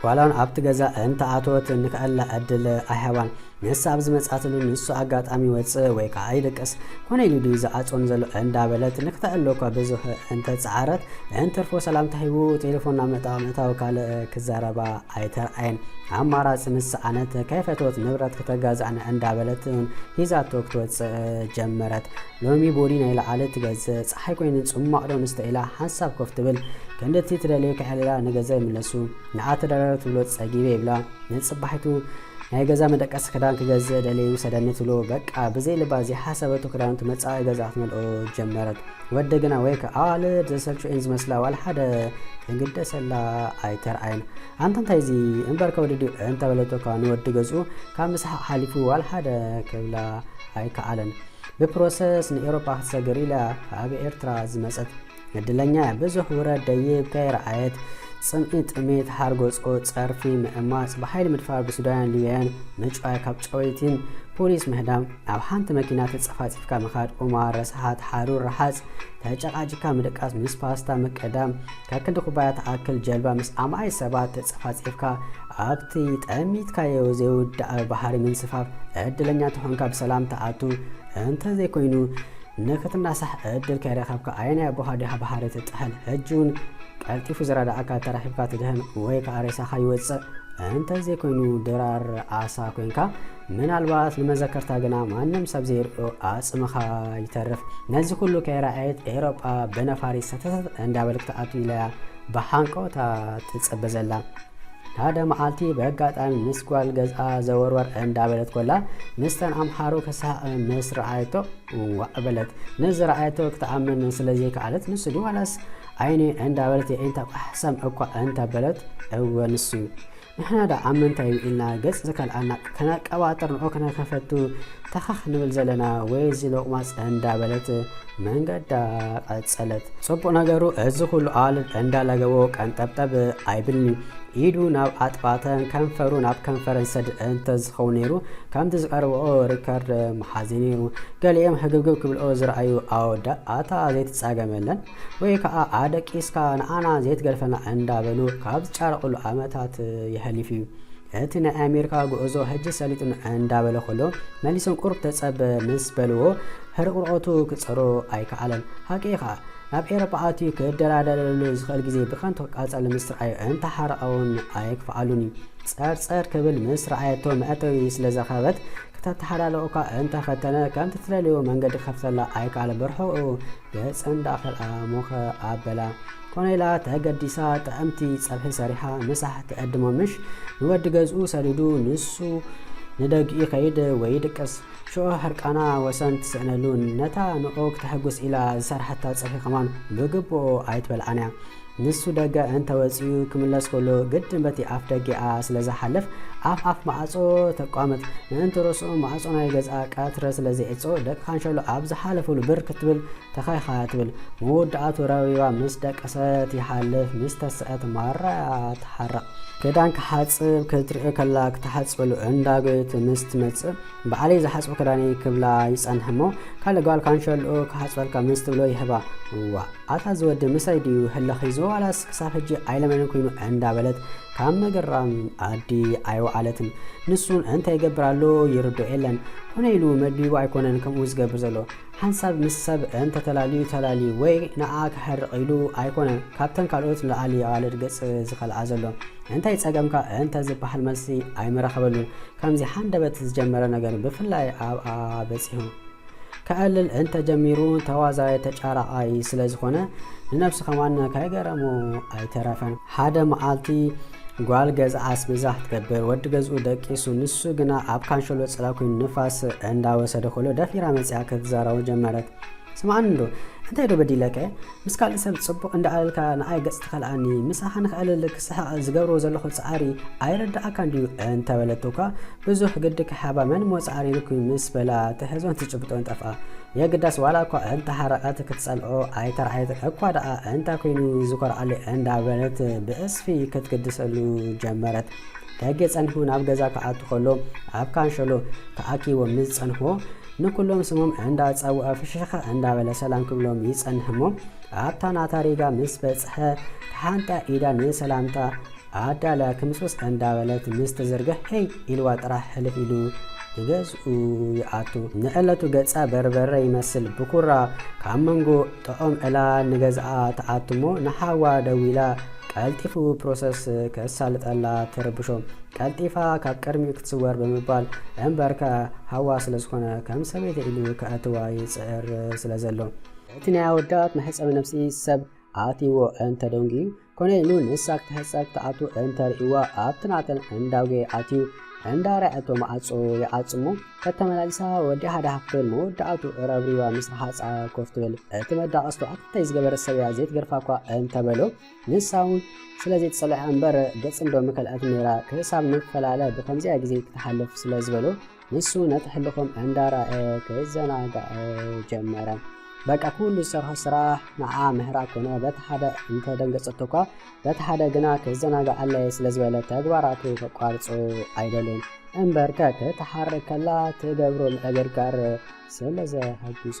ጓላውን ኣብቲ ገዛ እንተኣተወት እንክእላ ዕድል ኣይሃባን። ንሳ ኣብ ዝመጻትሉ ንሱ ኣጋጣሚ ይወጽእ ወይ ከዓ ይድቅስ ኮነ ኢሉ ድዩ ዝኣጽወኒ ዘሎ እንዳበለት ንክተዕሎ እኳ ብዙሕ እንተጸዓረት እንትርፎ ሰላምታ ሂቡ ቴሌፎን ናብ ምዕጣቕ ምእታው ካልእ ክዛረባ ኣይተርኣየን። ኣማራፂ ምስ ሰኣነት ከይፈተወት ንብረት ክተጋዛዕኒ እንዳበለት ሂዛቶ ክትወጽእ ጀመረት። ሎሚ ቦዲ ናይ ለዓለ ትገዝእ ጸሓይ ኮይኑ ጽሟቕ ዶ ንስተ ኢላ ሓንሳብ ኮፍ ትብል ክንዲ እቲ ትደልዮ ከሕልላ ንገዛ ይምለሱ ንዓ ተደራረብ ትብሎ ጸጊበ ይብላ ንጽባሒቱ ናይ ገዛ መደቀሲ ክዳን ክገዝእ ደልየ ይውሰደኒ ትብሎ በቃ ብዘይ ልባ ዘይሓሰበቶ ክዳውንቲ መጻኢ ገዛ ክትመልኦ ጀመረት ወዲ ግና ወይከ ኣዋልድ ዘሰልቹ እየን ዝመስላ ዋላ ሓደ ዝግደሰላ ኣይተርኣየን ኣንተ እንታይ እዚ እምበር ከወዲ ድዩ እንተበለቶ ካብ ንወዲ ገዝኡ ካብ ምስሓቕ ሓሊፉ ዋላ ሓደ ክብላ ኣይከኣለን ብፕሮሰስ ንኤሮፓ ክትሰግር ኢላ ኣብ ኤርትራ ዝመጸት ዕድለኛ እያ ብዙሕ ውረድ ደይብ ከይረኣየት ጽምኢ ጥሜት ሃርጎጾ ጸርፊ ምዕማጽ ብሓይሊ ምድፋር ብሱዳያን ሊብያን ምጭዋይ ካብ ጨወይቲን ፖሊስ ምህዳም ኣብ ሓንቲ መኪና ተጸፋጺፍካ ምኻድ ቁማር ረስሓት ሓሩር ረሓጽ ተጨቃጭካ ምድቃስ ምስ ፓስታ ምቅዳም ከክንዲ ኩባያ ትኣክል ጀልባ ምስ ኣማኢት ሰባት ተጸፋጺፍካ ኣብቲ ጠሚትካዮ ዘይውዳእ ባሕሪ ምንስፋፍ ዕድለኛ እንተኾንካ ብሰላም ትኣቱ እንተዘይኮይኑ ንክትናሳሕ ዕድል ከይረኸብካ ኣየናይ ኣቦኻ ድያ ባሕሪ ትጥሕል ሕጂውን ቀልጢፉ ዝረዳኣካ ተረኺብካ ትድህን ወይ ከኣ ሬሳኻ ይወጽእ እንተዘይኮይኑ ድራር ዓሳ ኮንካ ምናልባት ንመዘከርታ ግና ማንም ሰብ ዘይርኦ ኣጽምኻ ይተርፍ። ነዚ ኩሉ ከይረኣየት ኤሮጳ ብነፋሪት ሰተተት እንዳበል ክትኣቱ ኢላያ ብሃንቀውታ ትጽበ ዘላ። ሓደ መዓልቲ በጋጣሚ ምስ ጓል ገዝኣ ዘወርወር እንዳበለት ኮላ ምስተን ኣምሓሩ ክስሓቕ ምስ ረኣየቶ ዋእ በለት። ንዝረኣየቶ ክትኣምን ስለ ዘይከኣለት ንሱ ድዩ ዋላስ ዓይኒ እንዳበለት የዒንታ ቋሕሰም እኳ እንተበለት እወ ንሱዩ። ንሕና ደኣ ኣብ ምንታይ እዩ ኢልና ገጽ ዝከልኣና ከነቀባጥር ንዑ ክንከፈቱ ተኸኽ ንብል ዘለና ወይ እዚ ሎቕማጽ እንዳ በለት መንገዳ ቀጸለት። ጽቡቕ ነገሩ እዚ ኩሉ ኣዋልድ እንዳ ለገቦ ቀንጠብጠብ ኣይብልን እዩ። ኢዱ ናብ ኣጥባተን ከንፈሩ ናብ ከንፈረን ሰድ እንተ ዝኸውን ነይሩ ከምቲ ዝቀርብኦ ሪከርድ ምሓዘ ነይሩ። ገሊኦም ህግብግብ ክብልኦ ዝረኣዩ ኣወዳት ኣታ ዘይትጻገም የለን። ወይ ከኣ ኣደቂስካ ንኣና ዘይትገድፈና እንዳበሉ ካብ ዝጫረቅሉ ኣመታት የሐሊፍ እዩ። እቲ ናይ ኣሜሪካ ጉዕዞ ሕጂ ሰሊጡኒ እንዳበለ ከሎ መሊሶም ቁሩብ ተጸበ ምስ በልዎ ሕርቁርቆቱ ክጸሮ ኣይከኣለን። ሃቂ ኢኻ ናብ ኤሮፓ ኣትዩ ክደራደረሉ ዝኽእል ግዜ ብከንቱ ክቃጸል ምስ ረኣዩ እንተሓረቀውን ኣይክፍኣሉን እዩ። ጸርጸር ክብል ምስ ረኣየቶ መእተዊ ስለዘኸበት ክተተሓላለቁካ እንተፈተነ ከምቲ ትደልዮ መንገዲ ክኸፍተላ ኣይከኣለን ብርሑቁ ገጸን ደኣ ከልኣ ሞኸ ኣበላ። ኮነ ኢላ ተገዲሳ ጥዕምቲ ጸብሒ ሰሪሓ ምሳሕ ትዕድሞ ምሽ ንወዲ ገዝኡ ሰዲዱ ንሱ ንደግኡ ይኸይድ ወይ ይድቅስ። ሽዑ ሕርቃና ወሰን ትስእነሉን ነታ ንዑ ክተሕጉስ ኢላ ዝሰርሓታ ጸብሒ ከማን ብግቡኡ ኣይትበልዓን'ያ። ንሱ ደገ እንተ ወጺኡ ክምለስ ከሎ ግድን በቲ ኣፍ ደጌኣ ስለ ዝሓልፍ፣ ኣፍ ኣፍ መኣጾ ተቋምት። ምእንቲ ርእሱ ማዕጾ ናይ ገዝኣ ቀትሪ ስለ ዘይዕጾ፣ ደቂ ካንሸሎ ኣብ ዝሓለፉሉ ብር ክትብል ተኸይኻ ትብል። መወዳእትኡ ረቢባ ምስ ደቀሰት ይሓልፍ፣ ምስ ተሰአት ማራ'ያ ትሓርቕ። ክዳን ክሓጽብ ክትርኢ ከላ ክትሓጽበሉ እንዳ ጎየት ምስ ትመጽእ፣ ባዕለይ ዝሓጽቦ ክዳን'ዩ ክብላ ይጸንሕ'ሞ ካልእ ጓል ካንሸልኡ ክሓጽበልካ ምስ ትብሎ ይህባ። እዋእ ኣታ እዚ ወዲ ምሳይ ድዩ ህልኽ ሒዝዎ ዋላስ ክሳብ ሕጂ ኣይለመነን ኩይኑ እንዳበለት ካብ ምግራም ኣዲ ኣይወዓለትን። ንሱ'ውን እንታይ ይገብር ኣሎ ይርድኦ የለን። ኮነ ኢሉ መድቢቡ ኣይኮነን ከምኡ ዝገብር ዘሎ። ሓንሳብ ምስ ሰብ እንተ ተላልዩ ተላልዩ ወይ ንኣ ከሕርቕ ኢሉ ኣይኮነን ካብተን ካልኦት ንላዕሊ ኣዋልድ ገጽ ዝኸልኣ ዘሎ። እንታይ ጸገምካ እንተ ዝበሃል መልሲ ኣይምረኸበሉን። ከምዚ ሃንደበት ዝጀመረ ነገር ብፍላይ ኣብኣ በጺሑ ከዕልል እንተ ጀሚሩ ተዋዛያይ ተጫራዓይ ስለ ዝኾነ ንነብሱ ከማን ከይገረሞ ኣይተረፈን። ሓደ መዓልቲ ጓል ገዛ ኣስቤዛ ክትገብር ወዲ ገዝኡ ደቂሱ ንሱ ግና ኣብ ካንሸሎ ጽላ ኮይኑ ንፋስ እንዳወሰደ ከሎ ደፊራ መጺኣ ክትዛረቦ ጀመረት። ስምዓኒ እንዶ እንታይ ዶ በዲለከ ምስ ካልእ ሰብ ጽቡቕ እንዳኣለልካ ንኣይ ገጽ ትኸልኣኒ ምሳኻ ንኸዕልል ክስሕቕ ዝገብሮ ዘለኹ ጻዕሪ ኣይርድኣካን ድዩ እንተበለቶ እኳ ብዙሕ ግዲ ክሓባ መን ሞጽዓ ሪርኩ ምስ በላ ትሕዞን ትጭብጦን ጠፍኣ የግዳስ ዋላ እኳ እንተ ሓረቀት ክትጸልኦ ኣይተርኣየትን እኳ ደኣ እንታይ ኮይኑ ዝኮርዓለይ እንዳ በለት ብዕጽፊ ክትግድሰሉ ጀመረት ደጌ ጸኒሑ ናብ ገዛ ክኣቱ ከሎ ኣብ ካንሸሎ ተኣኪቦም ምስ ጸንሕዎ ንኩሎም ስሞም እንዳ ጸውዐ ፍሽኽ እንዳ በለ ሰላም ክብሎም ይጸንሕ እሞ ኣብታ ናታ ሪጋ ምስ በጽሐ ተሓንጥያ ኢዳ ንሰላምታ ኣዳልያ ክምስምስ እንዳበለት ምስ ትዝርግሕ ሄይ ኢልዋ ጥራሕ ሕልፍ ኢሉ ንገዝኡ ይኣቱ። ንዕለቱ ገጻ በርበረ ይመስል ብኩራ ካብ መንጎ ጥዑም ዕላ ንገዝኣ ትኣቱ'ሞ ንሓዋ ደዊላ ቀልጢፉ ፕሮሰስ ከሳልጠላ ትርብሾ። ቀልጢፋ ካብ ቅድሚኡ ክትስወር ብምባል እምበርከ ሓዋ ስለ ዝኾነ ከም ሰበይቲ ኢሉ ከእትዋ ይጽዕር ስለ ዘሎ። እቲ ናይ ኣወዳት መሕጸቢ ነብሲ ሰብ ኣእትይዎ እንተደንጉዩ፣ ኮነይኑ ንሳ ክትሕጸብ ትኣቱ እንተርእይዋ ኣብቲ ናተን እንዳውጌ ኣትዩ እንዳረኣየቶ መዓጾ ይዓጽሞ ከተመላልሳ ወዲ ሃዳሃ ክትብል መወዳእቱ ረብሪባ ምስ ረሃጻ ኮፍ ትብል እቲ መዳቐስቶ ኣተይ ዝገበረት ሰብያ ዘይትገርፋ እኳ እንተበሎ ንሳ እውን ስለ ዘይትጸልዐ እምበር ገጽ እንዶ ምከልኣት ነይራ ክሳብ ንፈላለ ብከምዚኣ ግዜ ክትሓልፍ ስለ ዝበሎ ንሱ ነቲ ሕልኩም እንዳረኣየ ክዘናጋዕ ጀመረ። በቃ ኩሉ ዝሰርሖ ስራሕ ንዓ ምህራ ኮነ በቲ ሓደ እንተደንገጸቶ እኳ በቲ ሓደ ግና ክዘናጋዓለይ ስለ ዝበለ ተግባራቱ ከቋርጾ ኣይደልን እምበር ከክትሓርክ ከላ ትገብሮ ምዕግርጋር ስለ ዘሐጉሶ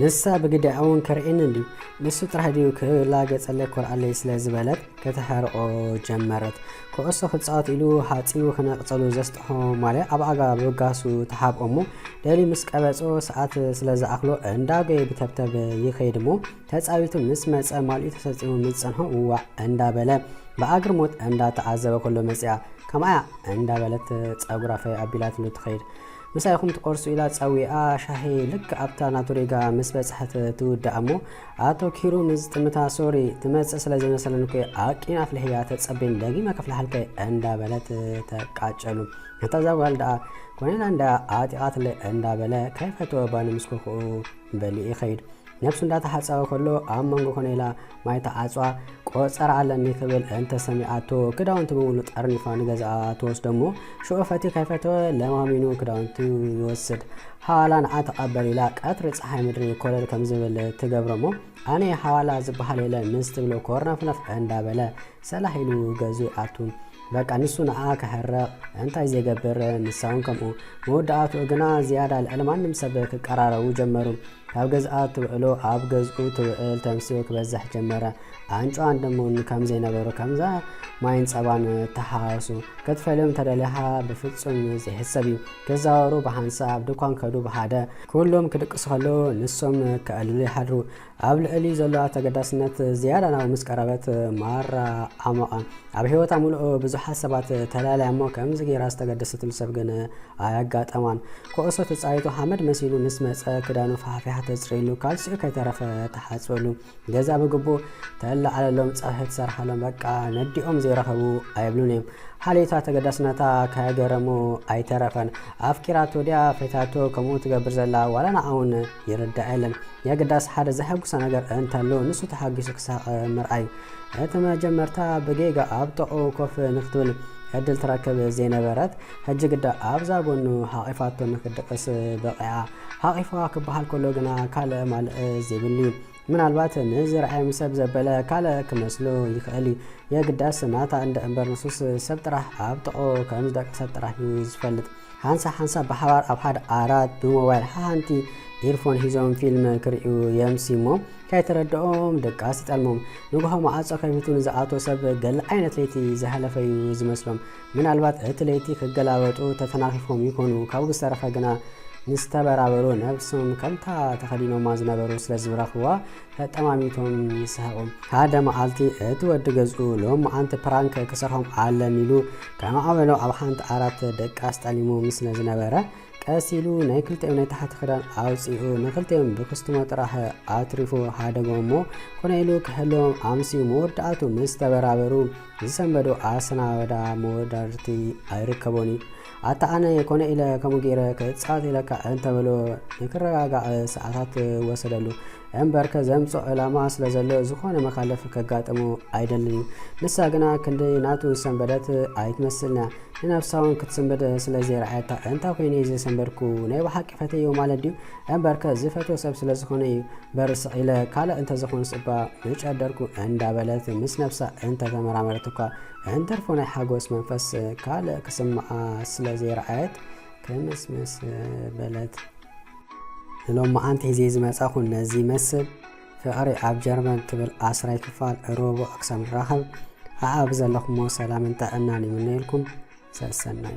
ንሳ ብግዲኣ እውን ከርእየኒ ድዩ ንሱ ጥራሕ ድዩ ክላገጸለይ ኮርኣለይ ስለ ዝበለት ከተሐርቆ ጀመረት ኩዕሶ ክጻወት ኢሉ ሃጺኡ ክነቕጸሉ ዘስጥሖ ማልያ ኣብ ኣጋ ብጋሱ ተሓብኦ እሞ ደልዩ ምስ ቀበጾ ሰዓት ስለ ዝኣኽሎ እንዳጎየ ብተብተብ ይኸይድ እሞ ተጻዊቱ ምስ መጸ ማልኡ ተሰጢሙ ምስ ዝጸንሖ ውዋእ እንዳበለ ብኣግርሞት እንዳተዓዘበ ከሎ መጺኣ ከማ'ያ እንዳበለት ጸጉራ ፈይ ኣቢላትሉ ትኸይድ። ምሳይ ኢኹም ትቆርሱ ኢላ ጸዊዓ ሻሂ ልክዕ ኣብታ ናቱ ሪጋ ምስ በጽሐት ትውድኣ'ሞ ኣቶኪሩ ምስ ዝጥምታ ሶሪ ትመጽእ ስለ ዘይመሰለኒ እኮ'የ ኣቂመ ኣፍሊሐያ ተጸበይኒ ደጊመ ከፍልሓልካ'የ እንዳበለት ተቃጨሉ። ነታ ዛጓል ደኣ ኮነይላ እንዳ ኣዕጢቓትለይ እንዳበለ ከይፈተወ ባኒ ምስ ኮኾኡ በሊኡ ይኸይድ። ነብሱ እንዳተሓጸበ ከሎ ኣብ መንጎ ኮነይላ ማይ ተዓጽዋ ቆጸራ ኣለኒ ክብል እንተ ሰሚዓቶ ክዳውንቲ ብምሉ ጠርኒፋ ንገዛኣ ትወስዶ እሞ ሽዑ ፈቲ ከይፈተወ ለማሚኑ ክዳውንቲ ይወስድ ሓዋላ ንዓ ተቐበል ኢላ ቀትሪ ፀሓይ ምድሪ ኮለል ከም ዝብል ትገብሮ እሞ ኣነ ሓዋላ ዝበሃል የለ ምስ ትብሎ ኮርነፍነፍ እንዳበለ ሰላሕ ኢሉ ገዙ ይኣቱ በቃ ንሱ ንኣ ክሕረቕ እንታይ ዘይገብር ንሳውን ከምኡ መወዳእትኡ ግና ዝያዳ ልዕሊ ማንም ሰብ ክቀራረቡ ጀመሩ ካብ ገዝኣ ትውዕሎ ኣብ ገዝኡ ትውዕል ተምስኡ ክበዝሕ ጀመረ። ኣንጭዋን ድሙን ከም ዘይነበሩ ከምዛ ማይን ጸባን ተሓዋወሱ። ክትፈልዮም ተደሊኻ ብፍጹም ዘይሕሰብ እዩ። ክዛወሩ ብሓንሳእ ኣብ ድኳን ከዱ ብሓደ። ኩሎም ክድቅሱ ከለዉ ንሶም ከዕልሉ ይሓድሩ። ኣብ ልዕሊኡ ዘሎ ኣተገዳስነት ዝያዳ ናብኡ ምስ ቀረበት ማራ ዓሞቐ። ኣብ ሕይወታ ምሉእ ብዙሓት ሰባት ተላልያ እሞ ከምዚ ገይራ ዝተገደሰትሉ ሰብ ግን ኣያጋጠማን። ኩዕሶ ተጻዊቱ ሓመድ መሲሉ ምስ መጸ ክዳኑ ፋሕፊሓ ተጽርየሉ፣ ካልሲኡ ከይተረፈ ተሓጽበሉ፣ ገዛ ብግቡእ ተለዓለሎም፣ ጸብሒ ትሰርሓሎም፣ በቃ ነዲኦም ዘይረኸቡ ኣይብሉን እዮም። ሓልዮታ ተገዳስነታ ከገረሙ ኣይተረፈን። ኣፍቂራቶ ድያ ፈታቶ ከምኡ ትገብር ዘላ ዋላ ንዓውን ይርዳእ የለን። የግዳስ ሓደ ዘሐጉሰ ነገር እንተሎ ንሱ ተሓጊሱ ክሳቐ ምርኣይ። እቲ መጀመርታ ብጌጋ ኣብ ጥቕኡ ኮፍ ንክትብል ዕድል ትረክብ ዘይነበረት፣ ሕጂ ግዳ ኣብዛ ጎኑ ሓቚፋቶ ንክትድቕስ በቒዓ። ሓቚፋ ክበሃል ከሎ ግና ካልእ ማልእ ዘይብሉ'ዩ። ምናልባት ንዝርኣዮም ሰብ ዘበለ ካልእ ክመስሎ ይኽእል'ዩ። የግዳስ ናታ እንድዒ እምበር ንሱስ ሰብ ጥራሕ ኣብ ጥቕኡ ከም ዝደቀሰት ጥራሕ'ዩ ዝፈልጥ። ሓንሳብ ሓንሳብ ብሓባር ኣብ ሓደ ዓራት ብሞባይል ሓንቲ ኢርፎን ሒዞም ፊልም ክርእዩ የምሲ እሞ ከይተረድኦም ድቃስ ይጠልሞም። ንግሆ መዓጾ ከፊቱ ንዝኣቶ ሰብ ገለ ዓይነት ለይቲ ዝሃለፈ እዩ ዝመስሎም። ምናልባት እቲ ለይቲ ክገላበጡ ተተናኺፎም ይኮኑ፣ ካብኡ ብዝተረፈ ግና ምስ ተበራበሩ ነብሶም ከምታ ተኸዲኖማ ዝነበሩ ስለ ዝረኽብዋ ተጠማሚቶም ይስሐቑ። ሓደ መዓልቲ እቲ ወዲ ገዝኡ ሎምዓንቲ ፕራንክ ክሰርሖም ኣለኒ ኢሉ ከማዕበሎ ኣብ ሓንቲ ዓራት ደቃስ ጠሊሙ ምስለ ዝነበረ ቀስ ኢሉ ናይ ክልቲኦም ናይ ታሕቲ ክዳን ኣውፂኡ ንክልቲኦም ብክስትሞ ጥራሕ ኣትሪፉ ሃደጎም እሞ ኮነ ኢሉ ክሕልዎም ኣምስዩ መወዳእቱ ምስ ተበራበሩ ዝሰንበዱ ኣሰናበዳ መወዳድርቲ ኣይርከቦን እዩ። ኣታ ኣነ ኮነ ኢለ ከምኡ ገይረ ክጻወት ኢለካ እንተበሎ ንክረጋጋዕ ሰዓታት ወሰደሉ። እምበርከ ዘምጽኦ ዕላማ ስለ ዘሎ ዝኾነ መኻለፍ ከጋጥሞ ኣይደልን እዩ። ንሳ ግና ክንደይ ናቱ ዝሰንበደት ኣይትመስልንያ። ንነብሳውን ክትስንብድ ስለ ዘይረኣየታ እንታይ ኮይኑ እዩ ዝሰንበድኩ ናይ ብሓቂ ፈተዮ ማለት ድዩ? እምበርከ ዝፈትዎ ሰብ ስለ ዝኾነ እዩ። በርስዕ ኢለ ካልእ እንተዝኾንስ እባ ምጨደርኩ እንዳበለት ምስ ነብሳ እንተተመራመረት እኳ እንተርፎ ናይ ሓጎስ መንፈስ ካልእ ክስምዓ ስለ ዘይረኣየት ክምስምስ በለት። ንሎማዓንቲ ሒዜ ዝመጻኹ ነዚ ይመስል። ፍቕሪ ኣብ ጀርመን ትብል ዓስራይ ክፋል ሮቡዕ ክሳብ ንራኸብ ኣኣብ ዘለኹሞ ሰላምን ጥዕናን ይምነየልኩም። ሰሰናዩ።